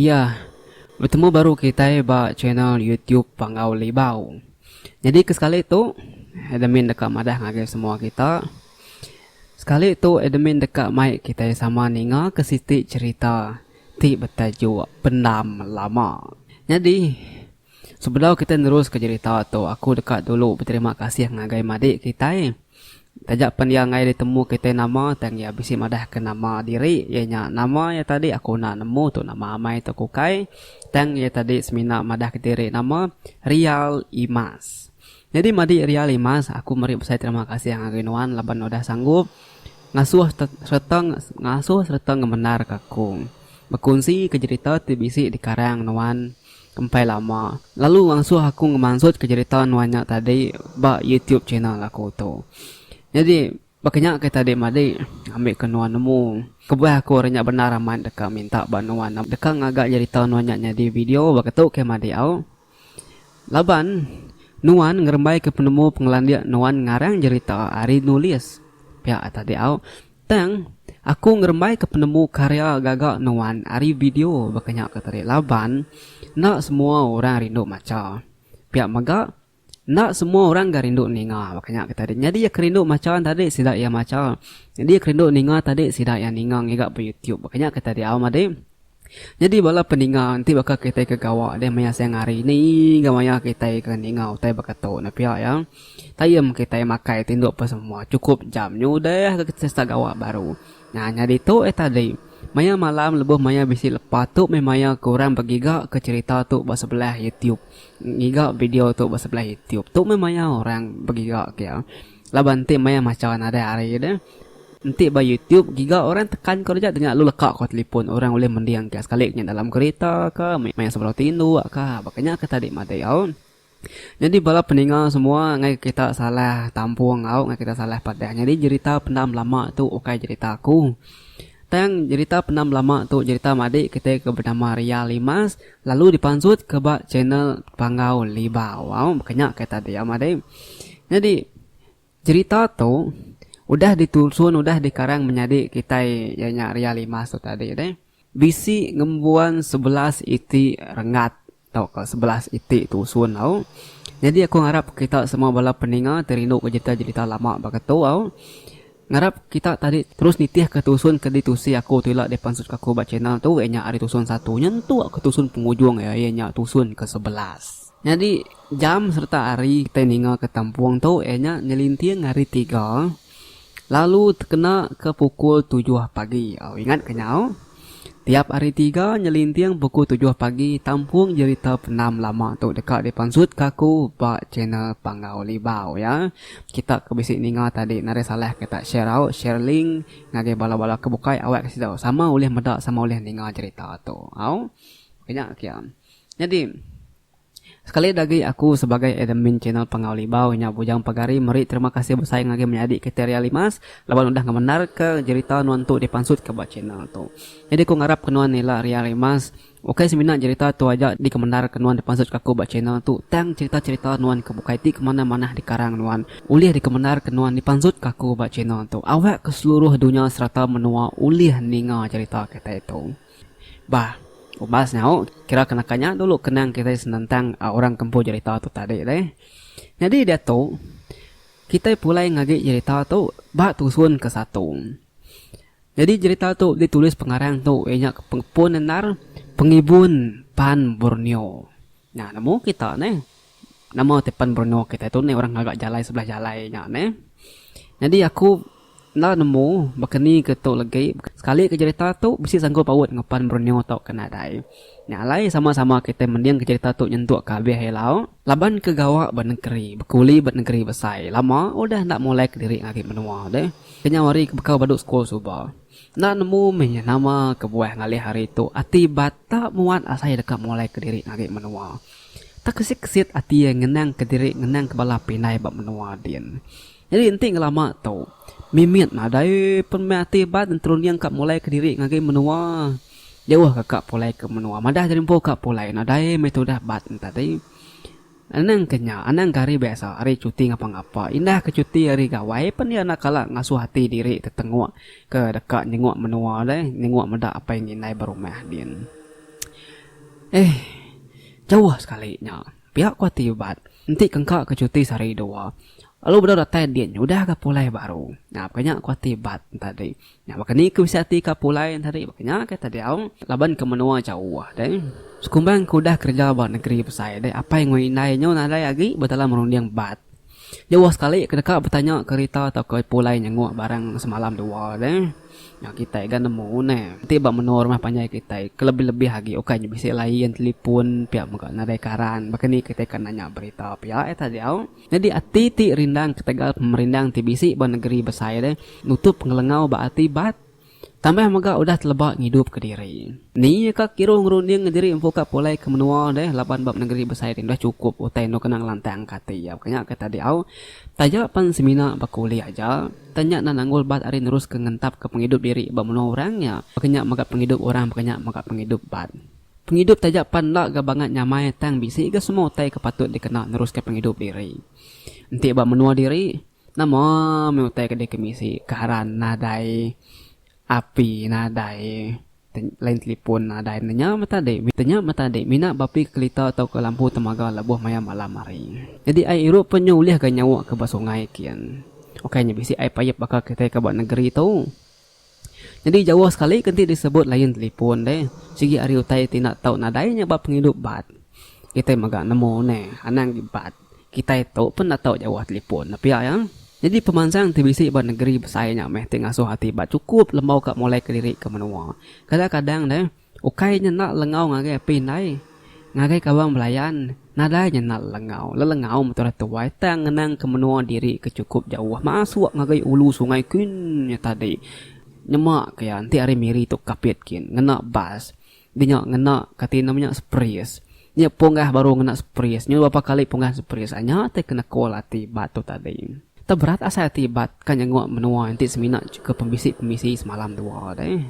Iya, betemu baru kitai ba channel YouTube Panggau Libau. Nyadi ke sekali tu admin deka madah ngagai semua kita. Sekali tu admin deka mai kitai sama ninga ke siti cherita ti betajuk Pendam Lama. Nyadi. Sebedau kitai neruska jerita tu, aku deka dulu beterima kasih ngagai madik kitai. Taja pen iya enggai ditemu kitai nama tang iya bisi madahka nama diri iya nya nama iya tadi aku enda nemu tu nama amai tok ukai tang iya tadi semina madahka diri nama Rial Imas. Nyadi madik Rial Imas aku meri besai terima kasih ngagai nuan laban udah sanggup ngasuh sereta ngasuh sereta ngembendarka aku bekunsika jerita ti bisi dikarang nuan. Kempai lama lalu ngasuh aku ngemansutka jerita nuan nya tadi ba YouTube channel aku tu. Nyadi baka nya ke tadi madi ngambika nuan nemu kebuah aku ari nya bendar amat deka minta ba nuan deka ngaga jerita nuan nya nyadi video baka tu ke madi au. Laban nuan ngerembaika penemu pengelandik nuan ngarang jerita ari nulis pia tadi au. Tang, aku ngerembaika penemu karya gaga nuan ari video baka nya ke tadi laban enda semua orang rindu macha. Pia mega, enda semua orang ga rindu ninga baka nya ke tadi. Nyadi iya ke rindu macha tadi sida iya macha. Nyadi iya ke rindu ninga tadi sida iya ninga ngiga ba YouTube baka nya ke tadi au madi. Nyadi bala peninga enti baka kitai ke gawa deh maya siang hari ni enggau maya kitai ke ninga utai baka tu ne pia iya. Tayem kitai makai ti indu pesemua chukup jam nyu deh ke kitai start gawa baru. Nah nyadi tu eh tadi maya malam lebuh maya bisi lepa tu meh maya ke orang begiga ke cherita tu ba sebelah youtube ngiga video tu ba sebelah youtube. Tu meh maya orang begiga ke iya. Laban enti maya macha nadai ari iya deh. Enti ba YouTube giga orang tekan ko reja denya lu leka ko telipon orang ulih mending ka sekali nya dalam kereta ka maya sebedau ti indu ka baka nya ke tadi madei au. Nyadi bala peninga semua ngagai kita salah tampung au ngagai kita salah padah nyadi jerita pendam lama tu ukai jerita aku. Tang jerita pendam lama tu jerita madik kitai ke benama Ria Limas. Lalu dipansut ke ba channel Panggau Liba. Waw bekenya kata dia madai. Nyadi jerita tu udah ditusun udah dikarang menyadi kitai iya nya Ria Limas tu tadi deh. Bisi ngembuan sebelas iti renggat tauka sebelas iti tusun tau. Nyadi aku ngarap kita semua bala peninga ti rinduka jerita-jerita lama baka tu au. Ngarap kita tadi terus nitih ke tusun ke ditusi aku tu ila dipansut ke aku ba channel tu iya nya ari tusun satu nyentu ke tusun pengujung iya iya nya tusun ke sebelas. Nyadi jam serta hari kitai ninga ke tampung tu iya nya nyelinting hari tiga lalu tekena ke pukul tujuh pagi. Au ingat ke nyau? Tiap Hari Tiga nyelinting pukul tujuh pagi tampung jerita penam lama tu deka dipansutka aku ba channel Panggau Libau ya. Kita ke bisi ninga tadi nadai salah kita share out, share link ngagai bala-bala ke bukai awakka sida sama ulih meda sama ulih ninga jerita tu. Au. Oka nya kia. Nyadi. Sekali dagi aku sebagai admin channel Pengawa Libau nya bujang pagari meri terima kasih besai ngagai menyadi Kiteria Limas laban udah ngemendarka jerita nuan tu dipangsutka ba channel tu. Nyadi aku ngarapka nuan nila Ria Limas, ukai semina jerita tu aja dikemendarka nuan dipangsutka aku ba channel tu tang cherita-cherita nuan ke bukai ti ke manah-manah dikarang nuan ulih dikemendarka nuan dipangsutka aku ba channel tu awakka seluruh dunya sereta menua ulih ninga jerita kitai tu. Bah, ubas nyau kira ke naka nya dulu kenang kitai senentang orang kempu jerita tu tadi deh. Nyadi diatu kitai pulai ngagi jerita tu ba tusun ke satu. Nyadi jerita tu ditulis pengarang tu iya nya pengepun endar pengibun pan Borneo. Nya nemu kita neh. Nama ti pen berenung kitai tu neh orang ngaga jalai sebelah jalai nya neh. Nyadi aku enda nemu baka ni ke tu legi. Sekali ke jerita tu bisi sanggup paut enggau pen berenung tu ke nadai. Nya alai sama-sama kitai mendingka jerita tu nyentuk ke abih ila. Laban ke gawa ba nengeri bekuli ba nengeri besai lama udah enda mulai kediri ngagai menua deh. Kenyau hari ke bekau badu sekul suba. Enda nemu mih nya nama kebuah ngalih hari tu ati bata muat asai deka mulai kediri ngagai menua. Tekesit-kesit ati iya ngenang kediri ngenang ke bala pinai ba menua din. Nyadi enti ngelama tu mimit nadai pun mih ati bat nterunding ka mulai kediri ngagai menua. Jauh ka ka pulai ke menua madah jerinpu ka pulai nadai mih tudah bat enti tadi. Anang ke nya, anang ke hari biasa, hari cuti ngapa-ngapa, indah ke cuti hari gawai pen iya enda kala ngasuh ati diri tetenguk ke deka nyenguk menua deh, nyenguk meda apai enggau indai ba rumah din. Eeh, jauh sekali nya. Pia ku ati Ubat, enti ke engka ke cuti sehari dua, lalu bedau datai din, udah ga pulai baru. Nyap ke nya ku ati Ubat tadi. Nya baka ni ku bisi ati ka pulai nya tadi baka nya ke tadiau laban ke menua jauh deh. Sekumbang ke udah kereja ba negeri besai deh apai enggau indai nyu nadai agi betalam runding bat. Jauh sekali ke deka betanya kerita tauka pulai nyenguk barang semalam dua deh. Nya kitai ga nemu neh enti ba menua rumah panjai kitai ke lebih-lebih agi ukai nya bisi lain telipun pia mega nadai karan baka ni kitai ka nanya berita pia eh tadiau. Nyadi ati ti rindang ketegal pemerindang ti bisi ba negeri besai deh nutup pengelengau ba ati bat tambah mega udah teleba ngidup ke diri. Ni ka kiru ngerunding ke diri empu ka pulai ke menua deh laban ba penegeri besai ti udah chukup utai endo kena ngelantang ka ati iya. Bukan nya ke tadi au taja pen semina ba kuli aja tang nya enda nanggul bat ari nerus ke ngentap ke pengidup diri ba menua orang nya baka nya mega pengidup orang baka nya mega pengidup bat. Pengidup taja pan enda ga bangat nyamai tang bisi ga semua utai ke patut dikena neruska pengidup diri. Enti ba menua diri, nama meh utai ke deka bisi, karan nadai, api nadai, line telefon nadai ne nya meh tadi. Te nya meh tadi mina bapi kelita tauka lampu temaga lebuh maya malam hari. Nyadi ai irup pun nya ulih ga nyawa ke ba sungai kin. Ukai nya bisi ai payap baka kitai ke ba negeri tu. Nyadi jauh sekali ke enti disebut layan telefon deh. Sigi ari utai ti enda tau nadai nya ba pengidup bat. Kitai mega nemu neh anang agi bat. Kitai tu pun enda tau jauh telefon dah pia iya. Nyadi pemansang ti bisi ba negeri besai nya meh ti ngasuh ati ba chukup lembau ka mulaika diri ke menua. Kadang-kadang deh. Ukai nyenda lengau ngagai api indai, ngagai kawan belayan, nadai nyenda lengau. Lelengau meh tudah tuai tang ngenangka menua diri ke chukup jauh masuk ngagai ulu sungai kin nya tadi. Nyema ke iya enti hari miri tu kapit kin ngena bas. Di nya ngena kati nama nya spris. Nya punggah baru ngena spris. Nyun berapa kali punggah spris nya ti ke nekul ati bat tu tadi. Tau berat asai ati bat ka nyengok menua enti semina ke pembisi-pembisi semalam dua deh.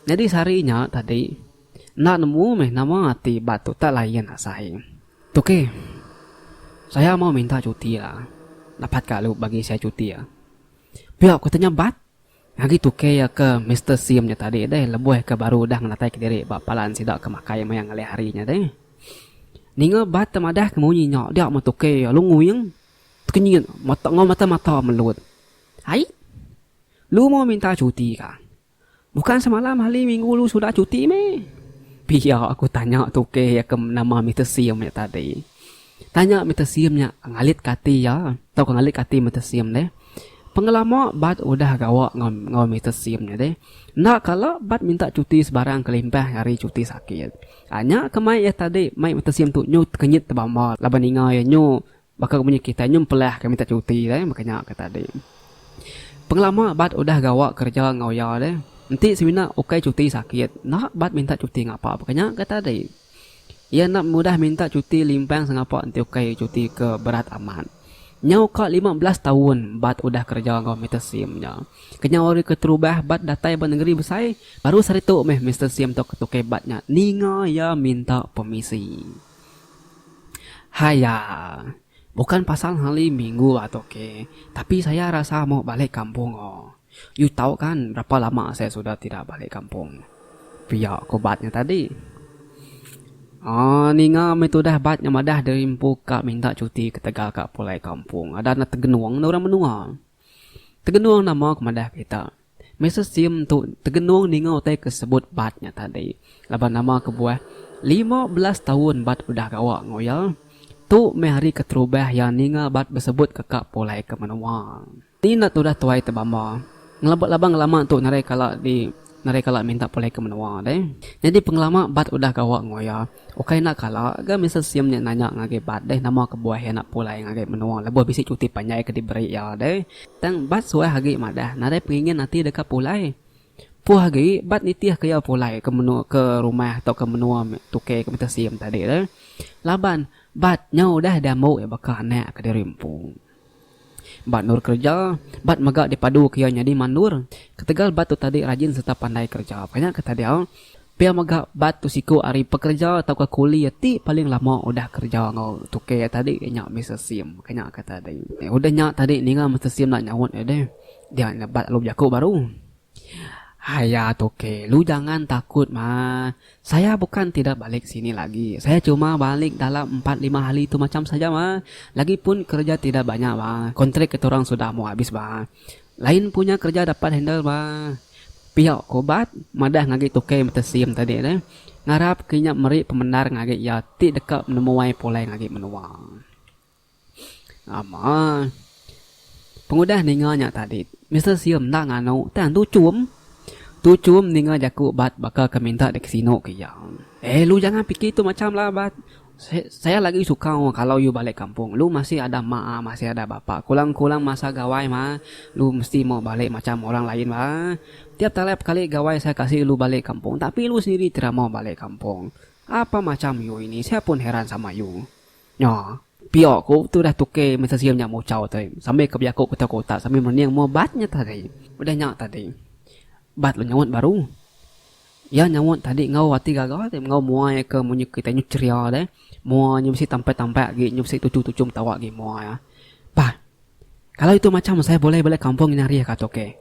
Nyadi sehari nya tadi, enda nemu meh nama ati ba tu tak layan asai. Tuki, saya mau minta cuti la. Dapat ka lu bagi saya cuti ya. Pia ku tanya Bat. Agi tuki ya ke Mister Sim nya tadi deh lebuh ke baru udah ngenatai ke diri ba palan sida ke makai maya ngelih hari nya deh. Ninga Bat te madah ke munyi nya dia meh tuki lalu nguing tekenyit enggau mata-mata melut. Ai, lu mau minta cuti ka? Bukan semalam hali minggu lu sudah cuti meh. Pia aku tanya tukeh iya ke nama Mister Sim nya tadi. Tanya Mister Sim nya ngalit ke ati iya tau ke ngalit ke ati Mister Sim deh. Pengelama bat udah gawa enggau Mister Sim nya deh. Enda kala bat minta cuti sebarang kelimpah ari cuti sakit. Nya ke mai iya tadi mai Mister Sim tu nyu tekenyit tebamba laban ninga iya nyu Baka munyi kitai nyempelah ke minta cuti deh baka nya ke tadi. Pengelama bat udah gawa kereja enggau iya deh. Enti semina ukai cuti sakit enda bat minta cuti ngapa baka nya ke tadi. Iya enda mudah minta cuti limpang sengapa enti ukai cuti ke berat amat. Nyau ka lima belas taun bat udah kereja enggau Mister Sim nya. Kenyau hari keterubah bat datai ba nengeri besai, baru sehari tu meh Mister Sim tu ketukai bat nya ninga iya minta pemisi. Haiya. Bukan pasal ngali minggu a tok ke, tapi saya rasa mau balik kampung o. Yu tau kan berapa lama saya sudah tidak balik kampung. Pia ko bat nya tadi. Aaa ninga meh tudah bat nya madah diri empu ka minta cuti ketegal ka pulai kampung. Ada enda tegenung enda orang menua. Tegenung nama ke madah kita. Mister Sim tu tegenung ninga utai ke sebut Bat nya tadi laban nama kebuah lima belas taun Bat udah gawa enggau iya. Tu meh hari keterubah iya ninga Bat besebut keka pulai ke menua. Ni enda tudah tuai tebamba. Ngelebak laban ngelama tu narai kala di narai kala minta pulai ke menua deh. Nyadi pengelama Bat udah gawa enggau iya. Ukai enda kala, ga Mister Sim nya nanya ngagai Bat deh nama kebuah iya enda pulai ngagai menua lebuh bisi cuti panjai ke diberi iya deh. Tang, Bat suah agi madah nadai pengingin ati deka pulai. Puh agi, Bat nitihka iya pulai ke menua ke rumah tauka menua tukey ke Mister Sim tadi deh. Laban, Bat nyau udah diambu iya baka anak kediri empu. Ba endur kereja, bat mega dipaduka iya nyadi mandur. Ketegal bat tu tadi rajin sereta pandai kereja, panya ke tadia, pia mega bat tu siku ari pekereja tauka kuli ti paling lama udah kereja enggau tukang iya tadi iya nya Mister Sim, panya ke tadi. Udah nya tadi ninga Mister Sim enda nyaut iya deh, dia nya bat lalu bejaku baru. Haya toke, lu jangan takut maa. Saya bukan tidak balik sini lagi. Saya cuma balik dalam empat lima hari tu macam saja maa. Lagipun kerja tidak banyak maa. Kontrik kita orang sudah mau habis maa. Lain punya kerja dapat handle maa. Pia ko Bat madah ngagi toke betesim tadi tu. Ngarap ke inya meri pemendar ngagi iya ti deka nemuai pulai ngagi menua. Ama. Pengudah ninga nya tadi, Mister Sium enda nganu tang Tu Chum. Tu Chum ninga jaku Bat baka ke minta dikesinu ke iya. Eh lu jangan piki tu macham lah Bat. Saya lagi suka kalau yu balik kampung. Lu masih ada mak a masih ada bapa a. Kulang-kulang masa gawai mah lu mesti mau balik macham orang lain ba. Tiap talap kali gawai saya kasi lu balik kampung tapi lu sendiri ti ra mau balik kampung. Apa macham yu ini saya pun heran sama yu. Nya, pia ku tu udah tuke mesa sium nya muchau te sambil ke bejaku ke tau ke utak sambil merening mua bat nya tadi. Udah nya tadi, bat lu nyaut baru. Iya nyaut tadi enggau ati gaga te enggau mua iya ke munyi kitai nyu cheria deh. Mua nyu mesti tampai-tampai agi nyu mesti tuchu-tuchu metawa agi mua iya. Pah. Kalau itu macam saya boleh balik kampung nya hari ka toke.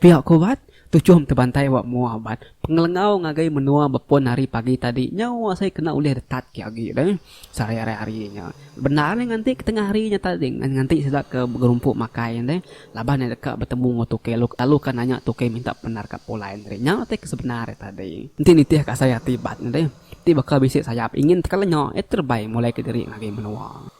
Pia ku bat, tuchum te bantai ba mua bat. Pengelengau ngagai menua bepon hari pagi tadi nyau asai kena ulih detat ke agi deh sehari ari hari nya. Bendar nya nganti ke tengah hari nya tadi nganti sida ke begerumpu makai nya deh laban iya deka betemu enggau toke lalu ka nanya toke minta pendar ka pulai nya tadi. Nya utai ke sebenar iya tadi. Enti nitih ka asai ati bat nya deh ti baka bisi sayap ingin teka lenya iya terbai mulai ke diri ngagai menua.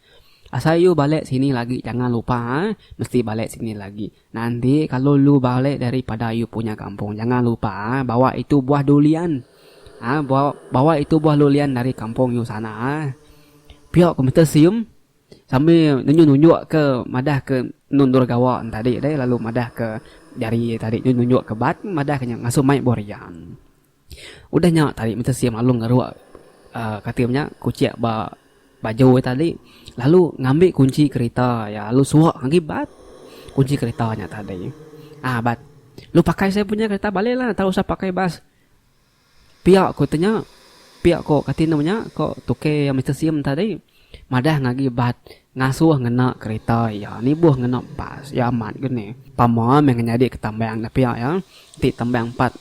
Asai yu balek sini lagi jangan lupa eh mesti balek sini lagi nanti kalu lu balek dari pada yu punya kampung jangan lupa eh bawa itu buah dulian ah bawa itu buah lulian dari kampung yu sana eh pio ko Mister Seum sambil nunjuk nunjuk ke madah ke nundur gawa tadi deh lalu madah ke jari tadi nunjuk nunjuk ke bat madah ke nya ngasoh mai borian. Udah nya tadi menta Sim Along ngeruk katil nya kuchik ba baju iya tadi lalu ngambi kunchi kerita iya lalu suwak agi bat kunchi kerita nya tadi. Aa bat lu pakai saya punya kerita baleklah enda usah pakai bas. Piak ku tu nya piak ku kati nama nya ko tukey Mister Sim tadi. Madah ngagi Bat ngasuh ngena kerita iya nibuh ngena bas iya amat ke ni. Pama meh ngenyadi ke tambang da pia iya enti tambang empat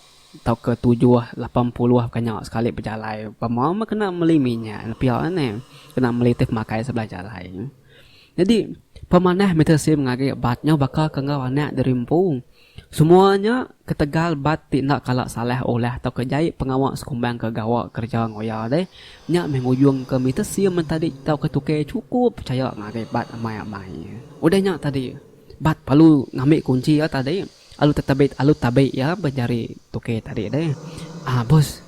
tauka tujuh lapan puluh bukan nya sekali bejalai pama meh kena meli minyak da pia ni kena meli ti pemakai sebelah jalai. Nyadi pemanah meter sim ngagi Bat nya baka ke enggau anak diri empu. Semua nya ketegal bat ti enda kala salah olah tauka jai pengawa sekumbang ke gawa kereja enggau iya deh. Nya meh ngujungka mita sim mentadi tauka tukang chukup pechaya ngagai bat amai amai. Udah nya tadi, bat perlu ngambi kunchi iya tadi alu tetebi alu tabi iya ba jari tukang tadi deh. Aa bos,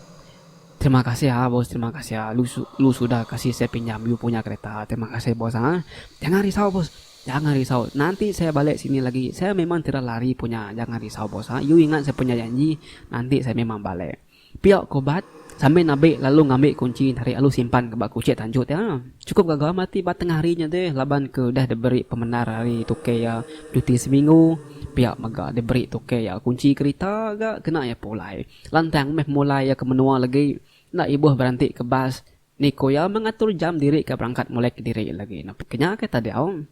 terima kasih aa bos terima kasih aa lu sudah kasih saya pinjam you punya kereta. Terima kasih bos aa. Jangan risau bos. Jangan risau, nanti saya balik sini lagi, saya memang tidak lari punya, jangan risau bos ha, you ingat saya punya janji, nanti saya memang balik. Pia ko Bat sambil nabi lalu ngambi kunci tarik lalu simpan ke ba kuchik tanjut iya. Chukup gaga mati ba tengah hari nya deh laban ke udah diberi pemendar ari tuke iya cuti seminggu, pia mega diberi tuke iya kunci kerita ga kena iya pulai. Lantang meh pemulai iya ke menua legi, enda ibuh beranti ke bas, Ni ku iya mengatur jam diri ke berangkat mulai kediri lagi napi ke nya ke tadau.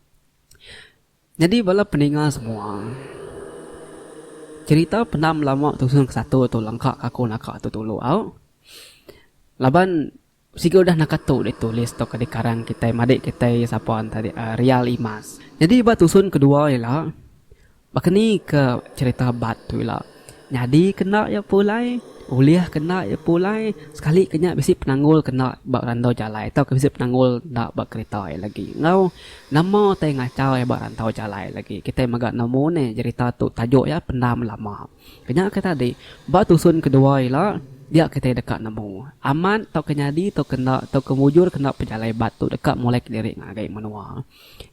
Nyadi bala peninga semua. Cerita pendam lama tusun ke satu tu lengka ke aku naka tu dulu au. Laban siga udah naka tu ditulis tauka dikarang kitai madik kitai sapa enti real imas. Nyadi ba tusun kedua ila Baka ni ke cherita bat tu ila? Nyadi ke enda iya pulai, ulih ke enda iya pulai, sekali ke nya bisi penanggul ke enda ba randau jalai tauka bisi penanggul enda ba kerita iya lagi enggau nama utai ngachau iya ba rantau jalai lagi. Kitai mega nemu nih cherita tu tajuk iya Pendam Lama. Ke nya ke tadi, ba tusun ke dua ila dia kitai deka nemu amat tauka nyadi tauka enda tauka mujur ke enda pejalai bat tu deka mulai kediri ngagai menua.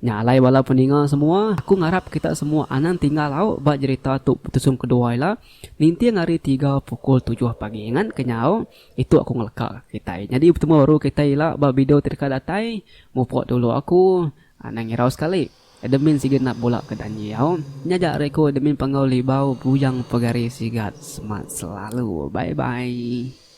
Nya alai bala peninga semua, aku ngarap kita semua anang tinggal lau ba jerita tu betusung kedua ila ninting hari tiga pukul tujuh pagi ngan kenyau itu aku ngeleka kitai nyadi betemu baru kitai ila ba video ti deka datai mupuk dulu aku anang ngirau sekali admin sigi nap bula ke danji au nya aja ari aku admin panggau libau bujang pegari sigat semat selalu bye bye.